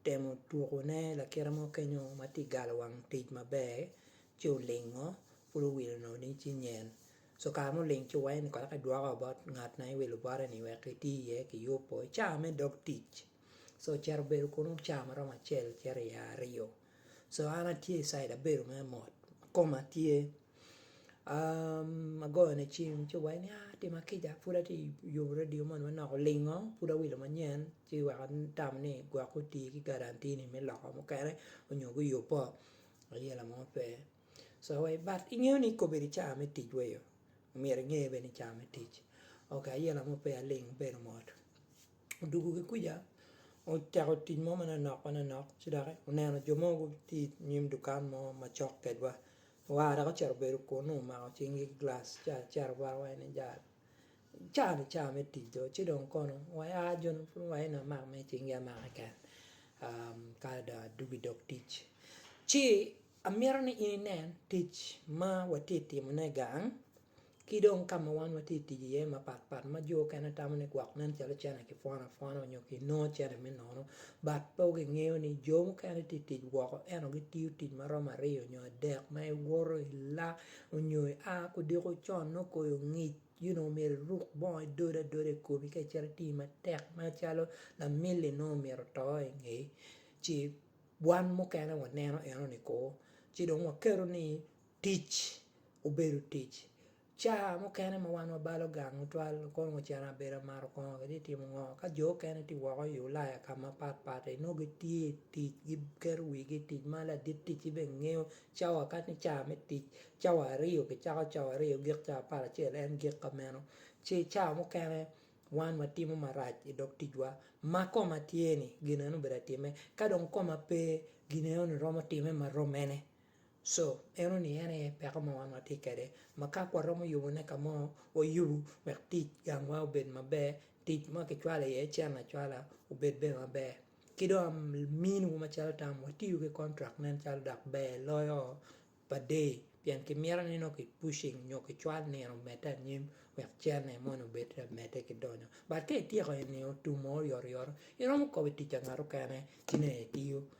otemo tukone lakite mo kenyo ma tye ka galo wang otic maber ci olingo pud owilo nongo ni ci nyen so kare ma oling ci owaco ni kara ka idwoka wa bot ngat ma iwilo bote ni wek iti iye kiyubo i cawa me dog tic so ocito obedo kunu cawa ma romo acel cito i aryo so an atye i cid abedo mere mot koma tye Agoyone cim ci owaco ni atima kica pud atye i yobo radio moni ma nongo olingo pud awilo manyen ci wek atamo ni gwok oti ki guarantee ni me loko mukene onyo guyubbo ayela mo pe so wa but ingeyo ni i kobedi ca me tic wa iyo myero inge bene ni ca me tic ok ayela mo pe aling abedo mot odwogo ki kuca ocako tic mo manonok manonok ci doki oneno jo mo gitye inyim dukan mo macok kwedwa Waa dok ocito obedo kunnu, omako cinggi gilac ci acito bot wa eni jalo. Caa-ni caa me tic dong, ci dong kono wa ia joni pud wa eni amak mere i cinggi amak keken ka dong adwogo i dog tic. Ci amito ni in inen tic ma watye ka timone gang. Ki dong ka ma wan watye ka tic iye mapat pat ma jo okene tamo ni gwok nen calo cene kipwono apwona onyo kinongo cene me nono but pe gingeyo ni jo mukene tye ka tic woko ento gitiyo tic ma romo aryo nyo adek ma iwoto ila onyo ia kudiko con nongo koyo ongic you know myero iruk bongo idod adoda ikomi ka icito iti matek macalo lamili nongo omyero oto inge ci wan mukene waneno enoni kor ci dong waketo ni Tic obedo tic. Ca mukene ma wan wabalo gang tutwal, kono ocito abedo amato kongo kitye ka timo ngo. Ka jo mukene tye woko i Ulaya ka mapat pat inongo gitye i tic, giketo wigi i tic ma ladit ticci bene ngeyo cawa kadi ni ca me tic cawa aryo kicako cawa aryo gik cawa pat acel en gik ka meno. Ci ca mukene wan watimo marac i dog ticwa ma koma tye-ni gin eno obedo atime ka dong koma pe gin enoni romo time ma romene. Co, eno ni en aye peko ma wan watye kwede ma ka waromo yubone ka mo, wayubu wek tic gangwa obed maber, tic ma kicwalo iye cen acwala obed bene maber. Ki dong aminiwu macalo tam, watiyu ki kontrak nen calo dok ber loyo pa day pien kimito ni nongo kipucing nyo kicwal nino omedde anyim wek cene moni obed ka medde ki donyo. But ka ityeko eni tum mo oryoto ryoto, iromo kobbi tic pa ngat mukene ci nongo itiyo.